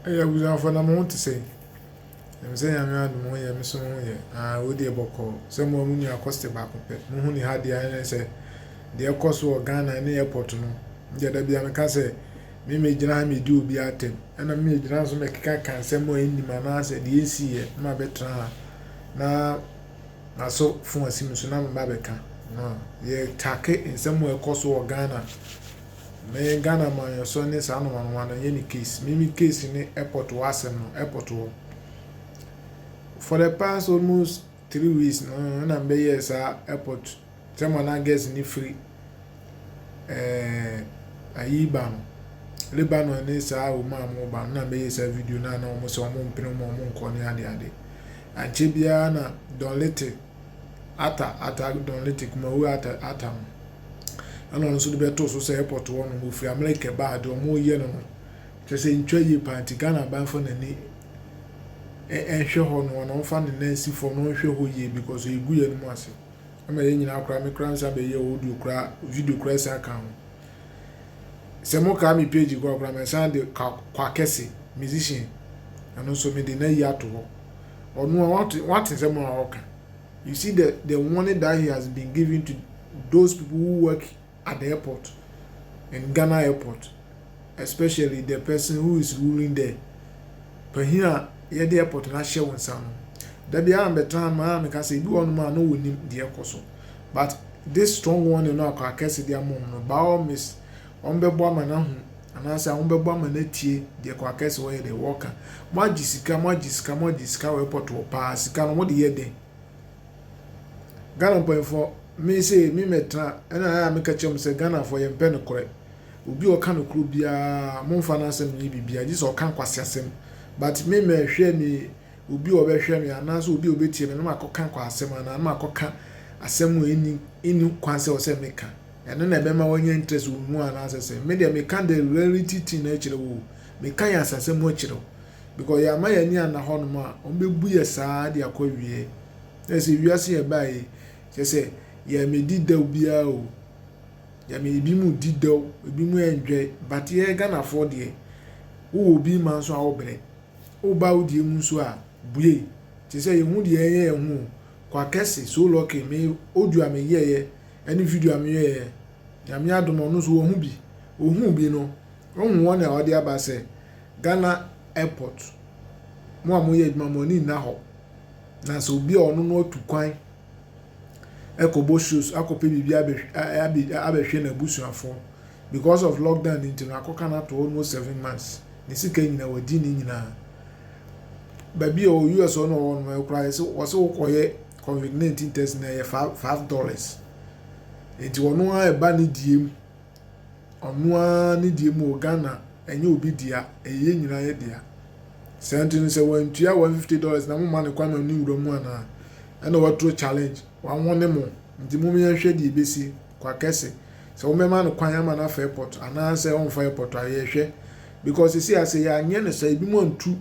Ɛyɛ abusuafoɔ na mo ho te sɛn? Ɛnim sɛ Nyame adom mo yɛ me so me ho yɛ aah wei deɛ bɔkɔɔ sɛ mo a mo nua kɔste baako pɛ mo ho ne ha deɛ ɛne sɛ deɛ ɛkɔ so wɔ Ghana ne airport no me deɛ da biara me ka sɛ me me gyina ha me di obi atɛm ɛna me me gyina ha so me keka ka nsɛm a ɛnnim anaasɛ deɛ ɛnsii yɛ me ma bɛtena ha na maso fon asi me so na me ba bɛka no yɛ take nsɛm a ɛkɔ so wɔ Ghana. Me Ghana amanyɔsɔ ne saa noma noma no yɛ ne case me me case ne airport hɔ asɛm no airport hɔ for the past almost three weeks no ɛna mbɛ yɛ saa airport sɛ mo anan girls ne firi ɛɛ ayi ba no Lebanon ne saa wɔn a wɔn ba no na mbɛ yɛ saa video na na wɔn sɛ wɔn mpene wɔn wɔn nkɔ ne ade ade ankyɛ biara na Don Little ata ata Don Little kumawu ata ata no. Ɛna ɔno nso de bɛtoo so sɛ airport hɔ nom ɔfiri America ɛbaa deɛ ɔmo yɛ no no kyerɛ sɛ ntwa yie paa nti Ghana aban fa n'ani ɛnhwɛ hɔ nom na ɔmfa ne nan si fam na ɔnhwɛ hɔ yie because ɛgu yɛn mu ase ɛma yɛn nyinaa koraa me koraa nsa bɛyɛ audio koraa video koraa san ka ho sɛ mo kaa me page koraa koraa me san de kwa kwa kɛse musician ɛno nso me de na yi ato hɔ ɔno a wate wate sɛ mo a ɔka You see the the warning that he has been giving to those people who work at the airport in Ghana airport especially the person who is ruling there panyin a yɛde airport no ahyɛ wɔn nsa no da bi ara mbɛtena ma a meka sɛ ebi wɔ nom a na wɔnim deɛ ɛkɔ so but this strong warning no akɔ akɛse de ama wɔn no by all means Wɔbɛbɔ ama no ahu, anaasɛ wɔbɛbɔ ama no atie deɛ Kwakɛse wɔyɛ dɛ wɔka. Moagye sika, moagye sika, moagye sika wɔ airport hɔ paa, sika no mode yɛ dɛn? Ghana mpanyinfoɔ, me sei me mɛtena, ɛna ayɛ a meka kyerɛ mo sɛ Ghanafoɔ yɛmpɛ nokorɛ. Obi a ɔka nokorɛ biara momfa n'asɛm nyɛ biribiara, gye sɛ ɔka nkwaseasɛm. But me mɛhwɛ me obi a ɔbɛhwɛ me anaasɛ obi a ɔbɛtie me na makɔka nkwaasɛm anaa na makɔka asɛm a ɛnni kwan sɛ ɛwɔ sɛ meka. Ɛno na ɛbɛma woanya interest wɔ mu anaasɛ sɛn? Me deɛ meka the reality thing na ɛkyerɛ wo o. Meka yɛn asasɛ mu ɛkyerɛ wo. Because yɛama yɛn ani anna hɔnom a, wɔbɛbu yɛ saa de akɔ awieɛ. Na ɛsɛ wiase yɛ baeɛ yi, kyerɛ sɛ yɛmmɛdi dɛw biara o. Yɛme ebi mu di dɛw, ebi mu enjoy, but yɛn Ghanafoɔ deɛ, wowɔ obi ma nso a wobrɛ. Woba wo deɛ mu nso a, bue. Te sɛ yɛhu deɛ yɛnyɛ yɛn ho o. Kwakɛse, so lucky, me audio a meyɛeɛ Ɛne video a meyɛeɛ. Nyame adom ɔno nso wahu bi. Ohuu bi no, wohu wɔn a wɔde aba sɛ Ghana airport, mo a moyɛ adwuma mo ani nna hɔ. Na sɛ obi a ɔno no atu kwan ɛkɔbɔ shows akɔpɛ biribi abɛ abɛhwɛ n'abusuafoɔ because of lockdown ne nti no akɔka no ato almost seven months ne sika nyinaa wadi ne nyinaa. Baabi a US ɔno ɔwɔ no ɛkora yɛ sɛ wɔsɛ wokɔyɛ Covid nineteen test no ɛyɛ five five dollars nti ɔno ara ɛba ne deɛ mu ɔno ara ne deɛ mu wɔ Ghana ɛnyɛ obi dea ɛyɛ yɛn nyinaa yɛ dea saa nti no sɛ wantua one fifty dollars na mo ma ne kwan ma ne wura mu anaa ɛna wɔaturo challenge wɔawɔ ne mo nti mo yɛn hwɛ deɛ ebesi kwa kɛse sɛ wɔn bɛma no kwan ama no afa airport anaasɛ ɔnfa airport a yɛhwɛ because sisi ase yɛ anyɛ ne sɛ ebi mo antu.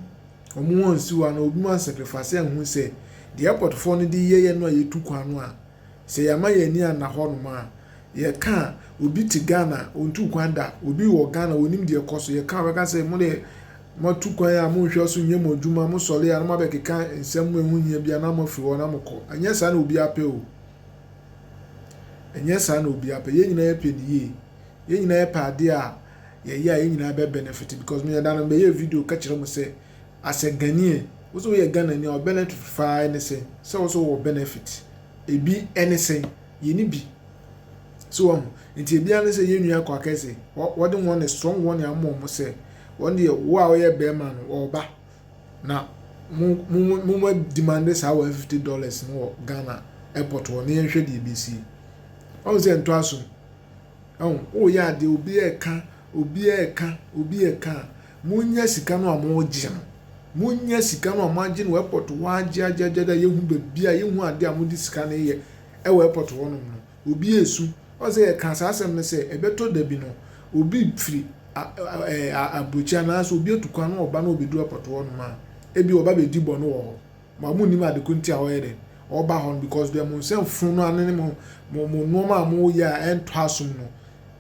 Wɔwɔ nsuwa no, obi ma nsɛpɛfase a hu sɛ deɛ airportfoɔ no de yɛeɛ no a yɛtu kwan no a, sɛ yɛama yɛn ani anna hɔnom a, yɛka a, obi te Ghana a, ɔntuu kwan da, obi wɔ Ghana a, ɔnim deɛ ɛkɔ so, yɛka a, ɔbɛka sɛ, mo deɛ, moatu kwan a, monhwɛ so nyɛ mo adwuma, mosɔre a na moabɛkeka nsɛm a ɛho hia biara na moafiri hɔ na mokɔ. Ɛnyɛ saa na obiara pɛ o. Ɛnyɛ saa na obiara pɛ. Yɛn nyinaa yɛpɛ no yie. Yɛn nyinaa yɛpɛ adeɛ a, yɛyɛ a yɛn nyinaa bɛ benefit because me yɛda no mbɛyɛ video kɛkyerɛ mo sɛ as a Ghanaian wo sɛ woyɛ Ghana ni a ɔbɛn ɛto fifaa ɛne sɛ sɛ wo sɛ wɔ benefit ebi ɛne sɛ yɛ ni bi so wɔn nti ebi ɛne sɛ yɛ nua kɔ akɛse wɔde wɔn ne strong wɔn ne amɔ mo sɛ wɔn deɛ wo a wɔyɛ bɛrima no ɔba na mo mo mo mo demande saa wɔ fifty dollars no wɔ Ghana airport wɔ ne yɛn hwɛ deɛ ebi si wɔn sɛ ntɔ asom. Ɛho, woyɛ adeɛ obi ɛka, obi ɛka, obi ɛka a, monya sika no a mogye no. Monya sika no a moagye no wɔ airport hɔ ara gyeagyeagyeagye a yɛhu baabi a yɛhu adeɛ a mode sika no yɛ ɛwɔ airport hɔ nom no, obi ɛresu. Woahu sɛ yɛkaa saa asɛm no sɛ ɛbɛtɔ da bi no, obi firi aburokyire anaasɛ obi atu kwan na ɔba na ɔbɛduru airport hɔ nom a, ebia ɔba bɛdi bɔne wɔ hɔ. Ba mo nnim ade ko nti a ɔyɛ dɛn ɔba hɔ no because deɛ mo nsa funu no ano ne mo mo mo nnoɔma a mo yɛ a ɛntɔ asom no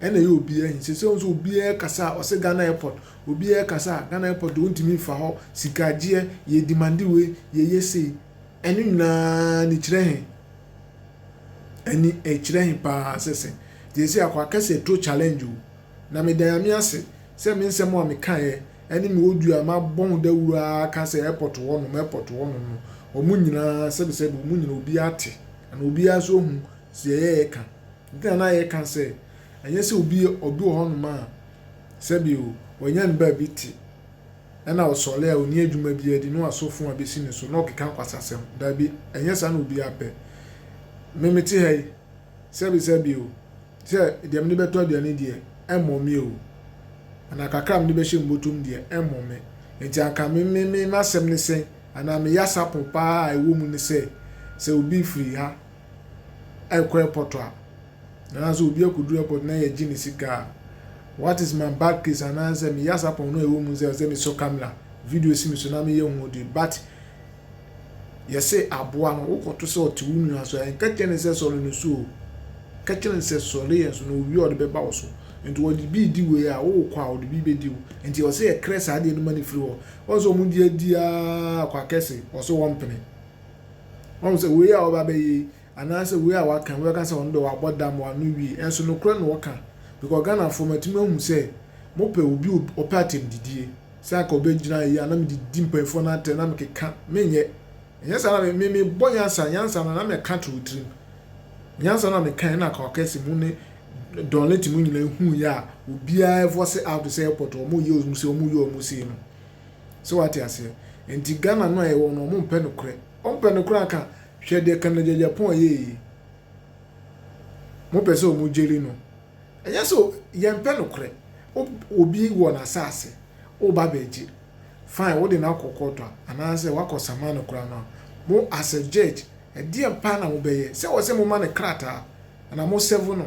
ɛna ɛyɛ obiara hin sese nso obiara kasa ɔsɛ Ghana airport obiara kasa Ghana airport deɛ ɔntumi nfa hɔ sika agyeɛ yɛ demande wei yɛ yɛ sei ɛno nyinaa ne kyerɛ he ɛni ɛkyerɛ he paa sese deɛ ɛsɛ akɔ akɛse ɛtɔ challenge o. Na meda Nyame ase sɛ me nsɛm a mekaeɛ ɛne me odua a mabɔ ho dawuro ara ka sɛ airport hɔ nom, airport hɔ nom no, wɔn nyinaa sɛbi sɛbi wɔn nyinaa obiara te anaa obiara nso ahu deɛ yɛreka. Nti na na yɛka sɛ ɛnyɛ sɛ obi ɔbi wɔ hɔ nom a sɛbi o, wanya ne baabi te ɛna ɔsɔre a ɔnni adwuma biara di na wasɔ fon abɛsi ne so na ɔkeka nkwasasɛm. Daabi, ɛnyɛ saa na obiara pɛ. Me mete ha yi, Sɛbesɛbe o, sɛ deɛ mede bɛtɔ aduane deɛ, ɛmmɔ me o, anaa kakra a mede bɛhyɛ me bɔtɔ mu deɛ, ɛmmɔ me. Enti anka me, me, me, m'asɛm ne sɛn? Anaa me yasapo pa ara a ɛwɔ mu ne sɛ, sɛ obi firi ha rekɔ airport a, anaasɛ obi akɔduru airport na yɛgye ne sika a, what is my bad case? Anaasɛ me yasapo no a ɛwɔ mu ne sɛ, ɛsɛ sɛ mesɔ camera, video si me so na meyɛ ho ode, but Yɛse aboa no wokɔto sɛ ɔte wo nua so a, nkɛkyerɛ no sɛ sɔre no so o, kɛkyerɛ no sɛ sɔre yɛn so na owia a ɔde bɛba wo so nti ɔde bi redi wei a wokɔ a ɔde bi bɛdi wo nti ɔse yɛkrɛ saa adeɛ no ma no firi hɔ ɔhu sɛ ɔmo de adi aa kwa kɛse ɔse wɔmpene ɔhu sɛ wei a ɔba bɛyɛ yi anaasɛ wei a waka wobɛka sɛ ɔno deɛ wabɔ dam wano wie ɛnso nokorɛ na ɔka because Ghanafoɔ matumi ahu sɛ mopɛ obi ɔpɛ atɛmdidie. Sɛ anka obegyina eyi a na mede di mpanyimfo no atɛn na mekeka, menyɛ. Ɛnyɛ saa na me, mebɔ nyansa, nyansa no na meka to wo tirim. Nyansa no na meka ɛna ka ɔkɛse mu ne Don Leti mu nyinaa hu yɛ a obiara ɛvɔse out sɛ airport wɔn yɛ wɔn se wɔn yɛ wɔn sei no. Sɛ wate aseɛ? Ɛnti Ghana no a yɛwɔ no wɔn mpɛ nokorɛ. Wɔn pɛ nokorɛ anka hwɛ deɛ Kanda Gyagya Pɔn yɛɛ yi. Wɔn pɛ sɛ wɔn gyeli no. Ɛnyɛ sɛ yɛmpɛ nokorɛ. Wo obi wɔ n'asaase, woreba abɛgye, fine, wode no akɔ kɔɔto a, anaasɛ woakɔ saman no koraa no a, mo as a judge, ɛdeɛn paa na mobɛyɛ? Sɛ ɛwɔ sɛ moma no krataa, anaa mo serve no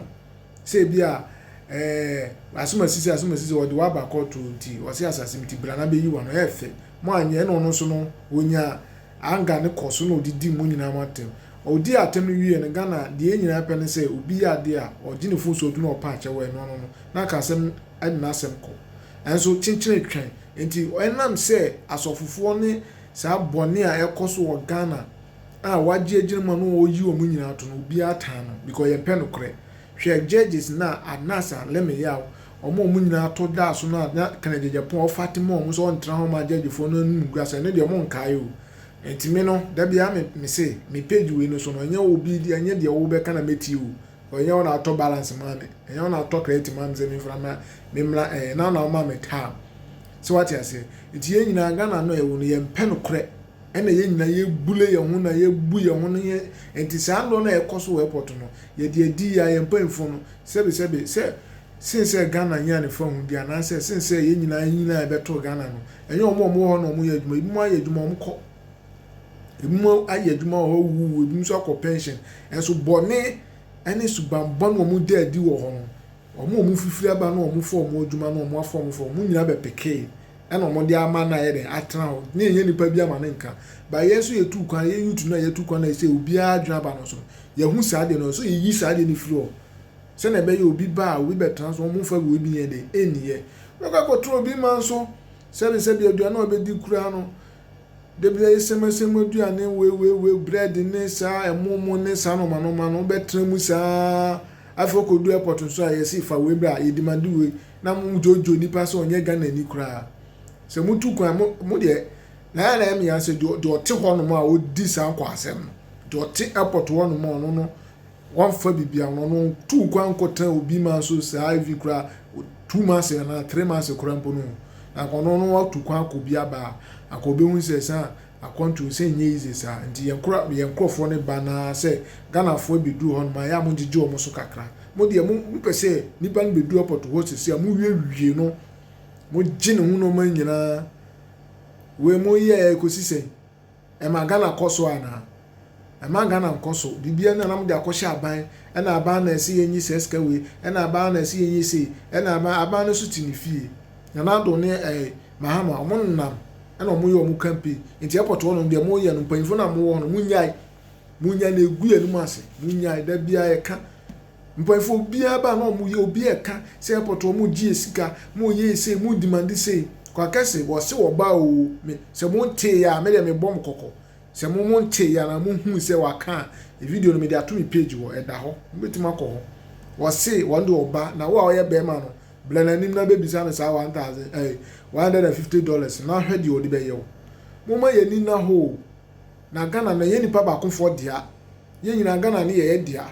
sɛ ebia eh, asomasisi, asomasisi, wɔde wo aba kɔɔto nti, wɔse asase nti bra na bɛyi wo ano, ɛɛfɛ. Moanyɛ, ɛna ɔno nso no, ɔnya Anger no kɔ so na ɔde di mo nyinaa mo atɛm. Ɔdii atɛm no wieɛ no, Ghana deɛ yɛn nyinaa pɛ ne sɛ obi yɛ adeɛ a ɔgye ne fon so ɔtu na ɔpɛ akyɛ wɔ ɛno ano no na aka asɛm ɛde n'asɛm kɔ. Nanso kyenkyene twɛn nti ɛnam sɛ asɔfofoɔ ne saa bɔne a ɛkɔ so wɔ Ghana a wɔagye agyina mu a na wɔyi wɔn nyinaa to no obiara taa no because yɛmpɛ nokorɛ. Hwɛ judges no a Anas a Leme Yaw Wɔn a wɔn nyinaa to daa so no a na Kennedy Agyapong a ɔfa tema wɔn sɛ wɔntra hɔ mma gyɛgyefoɔ no anum gua sɛ ɛno deɛ wɔnkae o. Enti me no, da biara me, me se, me page wei no so no, ɛnyɛ obi deɛ, ɛnyɛ deɛ wobɛka na mɛtie o. Ɔ, ɛnyɛ wo na wotɔ balance maa me. Ɛnyɛ wo na wotɔ credit maa me sɛ memfra mmra, memmra, ɛɛ, ɛnyɛ wo na womaa me time. Sɛ woate aseɛ? Enti yɛn nyinaa, Ghana no a yɛwɔ no, yɛmpɛ nokorɛ. Ɛna yɛn nyinaa yɛbule yɛn ho na yɛbu yɛn ho no, yɛn, enti saa nnɔ no a ɛkɔ so wɔ airport no, yɛde adi yɛ a, yɛn mpanyimfoɔ no, Sɛbesɛbe, sɛ sen sɛ Ghana nyaa ne fahudeɛ anaasɛ sen sɛ yɛn nyinaa yɛn nyinaa yɛbɛtɔɔ Ghana no, ɛnyɛ wɔn a wɔwɔ hɔ na wɔyɛ adwuma. Ebinom ayɛ adwuma, wɔkɔ. Ebinom ayɛ adwuma wɔ hɔ, wɔwuwu. Ebinom nso akɔ pɛnhyen. Nanso bɔne ne suban bɔne a wɔda adi wɔ hɔ no, wɔn a wɔfifiri aba na wɔfa wɔn adwuma na wɔafa wɔn fam, wɔn nyinaa bɛpekee. ɛna ɔmo de ama no ayɛ dɛn atena hɔ na yɛnyɛ nipa bi ama no nka but yɛn nso yɛtu kwan yɛ YouTube no a yɛtu kwan a ɛsɛ obiara adwene aba no so yɛhu saa deɛ no so yɛyi saa deɛ no firi hɔ sɛnea ɛbɛyɛ obi ba a obi bɛtena so ɔmo mfa wei bi yɛn de ɛnniyɛ wobɛkɔ akɔtena obi ma nso sɛbi sɛbi aduane a ɔbɛdi koraa no dabi ɛyɛ sɛmɛsɛm aduane wei wei wei bread ne saa ɛmo mo ne saa nɔma nɔma no wobɛtena mu saa afei ɔkɔdu airport nso a yɛsi fa wei bra yɛdimande wei na mo dwodwo nipa sɛ ɔnyɛ Ghanani koraa. Sɛ motu kwan mo mo deɛ Nana na ɛmea sɛ deɛ deɛ ɔte hɔnom a ɔdi saa nkwaasɛm no, deɛ ɔte airport hɔnom a ɔno no wɔmfa biribi a ɔno no tuu kwan nkɔtena obi ma nso saa evi koraa two months anaa three months koraa mpo no na ɔno no ɔtu kwan akɔ bi aba a anka ɔbɛhu sɛ saa Akwantuo nsɛ nyɛ easy saa nti yɛn kora yɛn nkorɔfoɔ no ba no ara sɛ Ghanafoɔ ɛbɛduru hɔ nom a ɛyɛ a mogyegye wɔn so kakra mo deɛ mo mopɛ sɛ nipa no bɛdu airport hɔ seisei a mo wie wie no mogye ne ho nnoɔma nyinaa wei mo yɛɛ kɔsi sɛn ɛma Ghana kɔ so anaa Ɛmaa Ghana nkɔ so. Biribiara ni a na mode akɔhyɛ aban, ɛna aban na ɛsɛ yɛnyi saa sika wei, ɛna aban na ɛsɛ yɛnyɛ sei, ɛna aban, aban no nso te ne fie. Nana Addo ne ɛɛ Mahama, wɔnenam ɛna wɔyɛ wɔn campaign. Nti airport hɔ nom deɛ moyɛ no, mpanyinfoɔ no a mowɔ hɔ no, monyae. Monyae na ɛgu yɛn anim ase. Monyae, da biara yɛka. Mpanyinfoɔ obiara ba a na wɔyɛ, obiara ɛka sɛ airport hɔ mogyee yɛn sika, moyɛ yɛn sei, mo demande sei. Kwakɛse, wɔse wɔba oo, me, sɛ montee a, me deɛ mebɔ mo kɔkɔ. Sɛ mo mo ntee anaa mo huu sɛ waka a, video no mede ato me page hɔ, ɛda hɔ, mo bɛtumi akɔ hɔ. Ɔse wɔn de ɔba na wo a ɔyɛ bɛɛma no blɛ n'anim na bɛbisa no saa one thousand ɛɛ one hundred and fifty dollars no na hwɛ deɛ ɔde bɛyɛ wo. Momma yɛn ani nna hɔ oo. Na Ghana no ɛnyɛ nipa baako foɔ dea, yɛn nyinaa Ghana no yɛ yɛ dea.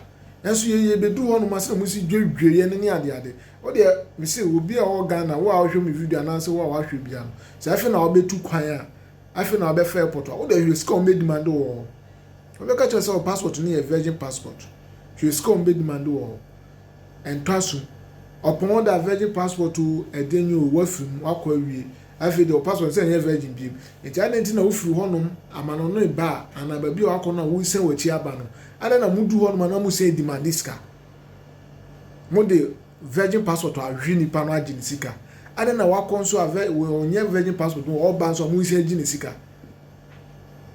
Nanso yɛn yɛ bɛduru hɔ nom a sɛdeɛ mosi dwedwe yɛn no ne ade ade. Wo deɛ mese obi a ɔwɔ Ghana wo a wohwɛ me video anaasɛ wo a wahwɛ bia no sɛ afei na wobɛtu kwan a Afei na ɔbɛfa airport a, wo dɛ hwɛ sika a wɔbedemand wo wɔ hɔ. Wɔbɛka kyerɛ wo sɛ wo passport no yɛ virgin passport. Hwɛ sika a wɔbedemand wo wɔ hɔ. Ɛntɔ asom. Ɔpɔn wo da virgin passport o, ɛdeɛn nyɛ o, woafiri mu, woakɔ awie. Afei deɛ wo passport no sɛ ɛnyɛ virgin biom. Nti adɛn nti na wofiri hɔnom amanɔnee ba a, anaa baabi a woakɔ no a woresan w'akyi aba no, adɛn na modu hɔnom a na mosan demande sika? Mode Virgin passport a hwe nipa no agye ne sika ade na wakɔ nso a vɛ wɔ ɔnyɛ virgin passport no ɔba nso a ɔmo nsi agye ne sika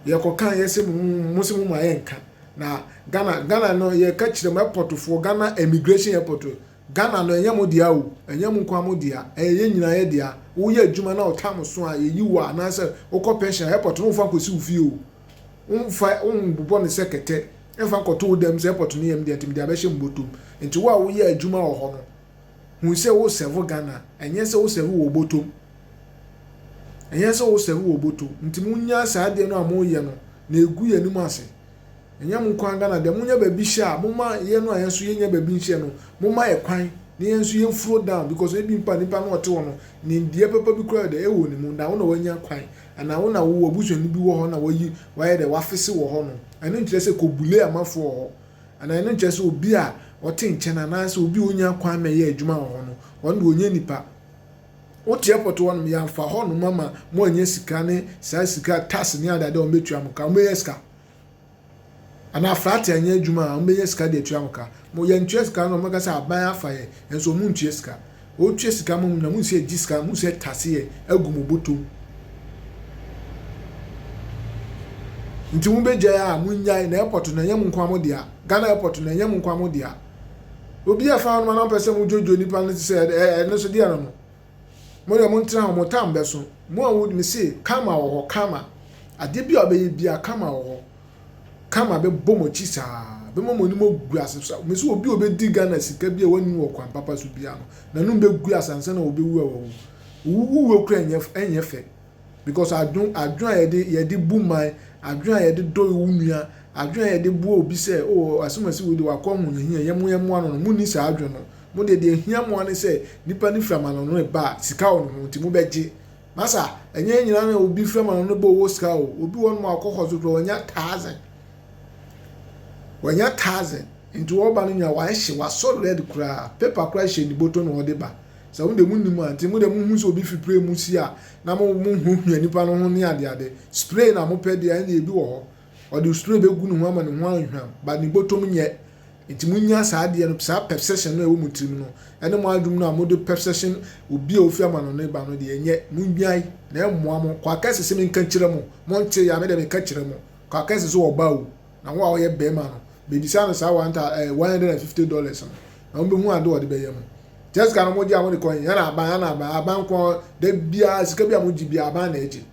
yɛ kɔ kan yɛ se mo mo se mo ma yɛ nka na Ghana Ghana no yɛ ka kyerɛ mo airport foɔ Ghana immigration airport Ghana no ɛnyɛ mo dea o ɛnyɛ mo nkoa mo dea ɛyɛ yɛ nyina yɛ dea wo yɛ adwuma na ɔtam so a yɛ yi wo a anaasɛ wo kɔ pension a airport no nfa nkɔ si wo fie o. Womfa wobobɔ no sɛ kɛtɛ mfa nkɔto wo dan sɛ airport no yam deɛ nti mede abɛhyɛ mo bɔtɔm. Nti wo a woyɛ adwuma wɔ hɔ no hu sɛ wo serve Ghana ɛnyɛ sɛ wo serve wɔ bɔtɔm. Ɛnyɛ sɛ wo serve wɔ bɔtɔ nti mo nyaa saa adeɛ no a mo yɛ no na ɛgu yɛn anim ase. Ɛnyɛ mo nkoaa Ghana deɛ mo nya baabi hyɛ a mo ma yɛn no a yɛn nso yɛ nya baabi nhyɛ no mo ma yɛ kwan na yɛn nso yɛn furo down because ebi mpo a nipa no ɔte hɔ no nimdeɛ papa bi koraa deɛ ɛwɔ ne mu na wo na wanya kwan Anaa wo na wo w'abusuani bi wɔ hɔ na wayi wayɛ dɛ w'afese wɔ hɔ no, ɛno nkyerɛ sɛ kɔ bule amafo wɔ hɔ. Anaa ɛno nkyerɛ sɛ obi a ɔte nkyɛn anaa sɛ obi a onnya kwan mɛyɛ adwuma wɔ hɔ no, ɔno de ɔnyɛ nipa. Wo teɛ pɔtɔ hɔ nom, yɛanfa hɔ nom ama mo annya sika ne saa sika tax ne ade ade a wɔn bɛtua mo ka, wɔn bɛnya sika. Anaa flaate anyɛ adwuma a wɔbɛnya sika de atua ho ka. Mo yɛntua sika no a wɔbɛka sɛ aban afa yɛn nanso wɔn ntua sika. Wɔtua sika ma mo nyinaa, mo sɛ ɛgye sika a mo sɛ ɛtase yɛn agu mo bɔtɔ mu. Nti mo bɛgyae a mo nnyae na airport no ɛnyɛ mo nkoa mo dea. Ghana airport no ɛnyɛ mo nkoa mo dea. Obi a ɛfa ho no ma na ɔpɛ sɛ mo dwodwo nipa no te sɛ ɛno nso deɛ no no. Mo deɛ montena hɔ, mo tam bɛso. Mo a mo, mese, karma wɔ hɔ, karma. Adeɛ bi a ɔbɛyɛ biara, karma wɔ hɔ. Karma bɛbɔ mo akyi saa, bɛma mo anim agu ase saa. Mese obi a ɔbɛdi Ghana sika bi a wanni wɔ kwan papa so biara no, n'anom bɛgu ase ansa na ɔbɛwu a wawu. Owuwuo koraa ɛnyɛ, ɛnyɛ fɛ. Because adwen adwen a yɛde yɛde bu man, adwen a yɛde dɔ wo nua, adwen a yɛde boa obi sɛ o Asumasi wei deɛ wakɔ ahohiahia yɛ mo yɛ mmoa no no mo nni saa adwen no. Mo deɛ deɛ ehia mo ara ne sɛ nipa no firi amanɔne reba a sika wɔ ne ho nti mo bɛ gye. Masa, ɛnyɛ yɛn nyinaa na obi firi amanɔne reba ɔwɔ sika o. Obi wɔ hɔ nom a ɔkɔ hospital koraa wanya thousand. Wanya thousand nti ɔreba no nyinaa wahye wasɔ red koraa paper koraa hyɛ ne bɔtɔ na ɔde ba. Sɛ mo deɛ monim a, nti mo deɛ mohu sɛ obi fipire mu si a na mo mo ho hia nipa no ho ne adeade. Spray na mopɛ deɛ a ɛnneɛ ebi wɔ hɔ ɔde spray bɛgu ne ho ama ne ho ahwam but ne bɔtɔm nyɛ. Nti monnya saa adeɛ no, saa perception no a ɛwɔ mo tirim no ne mo adwom no a mode perception obi a ofi amanɔne ba no deɛ ɛnyɛ. Monnyae na ɛmmoa mo. Kwakɛse se menka nkyerɛ mo, monte? Ya me deɛ meka kyerɛ mo, kwakɛse se ɔba o, Na wo a ɔyɛ bɛɛma no bebisa no saa one thousand ɛɛ one hundred and fifty dollars no na wɔn behu ade a ɔde bɛyɛ mu. Jessica no wɔn gye a wɔn de kɔ he? Ɛna aban, ɛna aban, aban nko da biara sika bi a wɔn gye biara aban na ɛgye.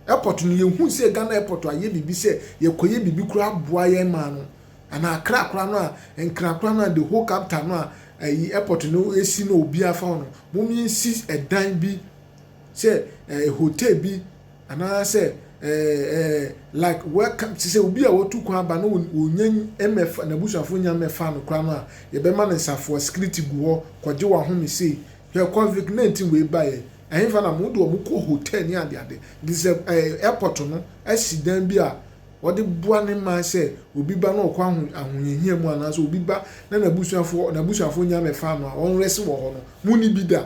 Airport no yɛ hu sɛ Ghana airport ayɛ biribi sɛ yɛ kɔ yɛ biribi kura aboa yɛn maa no ana akra kora no a nkra kora no a the whole capital no a ɛyi airport no esi no obi afa no wɔn yɛn si ɛdan bi sɛ ɛɛ hotel bi anaasɛ ɛɛ ɛɛ like welcome te sɛ obi a watu kwan aba na wɔnya mmɛfa n'abusuafo nya mmɛfa no koraa no a yɛbɛma no nsafoa security gu hɔ kɔgye w'ahome sei hwɛ covid nineteen wei baeɛ ɛhefa na mo de wɔn kɔ hotel ne adeade nti sɛ ɛɛ airport no asi dan bi a wɔde boa ne man sɛ obi ba na ɔkɔ aho ahohiahia mu anaasɛ obi ba na n'abusuafo n'abusuafo nya mmɛfa no a wɔn rɛse wɔ hɔ no mo ni bi da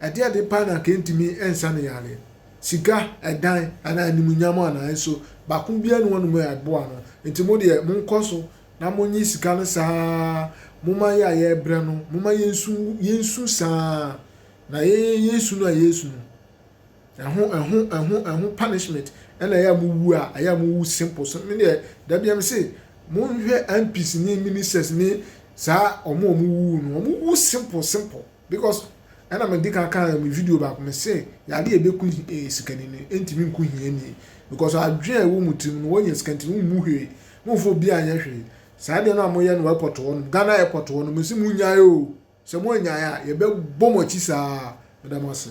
Adeade pa na anka entumi nsa no yare. Sika, ɛdan, anaa animuonyam anaa? Nso, baako biara nni hɔnom a ɛboa no. Enti mo deɛ, monkɔ so na monnye sika no saa ara. Momma yɛn a yɛrebrɛ no, momma yensu yensu saa ara, na yɛn yensu no a yɛresu no, ɛho, ɛho, ɛho, ɛho punishment, ɛna ɛyɛ a mowu a, ɛyɛ a mowu simple. So, me deɛ, da biara mese, monhwɛ MPs ne ministers ne saa wɔn a wɔwuwu no, wɔwu simple, simple. Because ɛna me di kan kaa me video baako me se yade a ebeku sikani no entumi nku hiani because adwene a ɛwɔ mu tirim no wɔnya sika nti no wommu hwee momfa obi anyɛ hwee saa deɛ no a moyɛ no wɔ airport hɔ nom Ghana airport hɔ nom mese monnyae oo sɛ moannyae a yɛbɛbɔ mo akyi saa meda mo ase.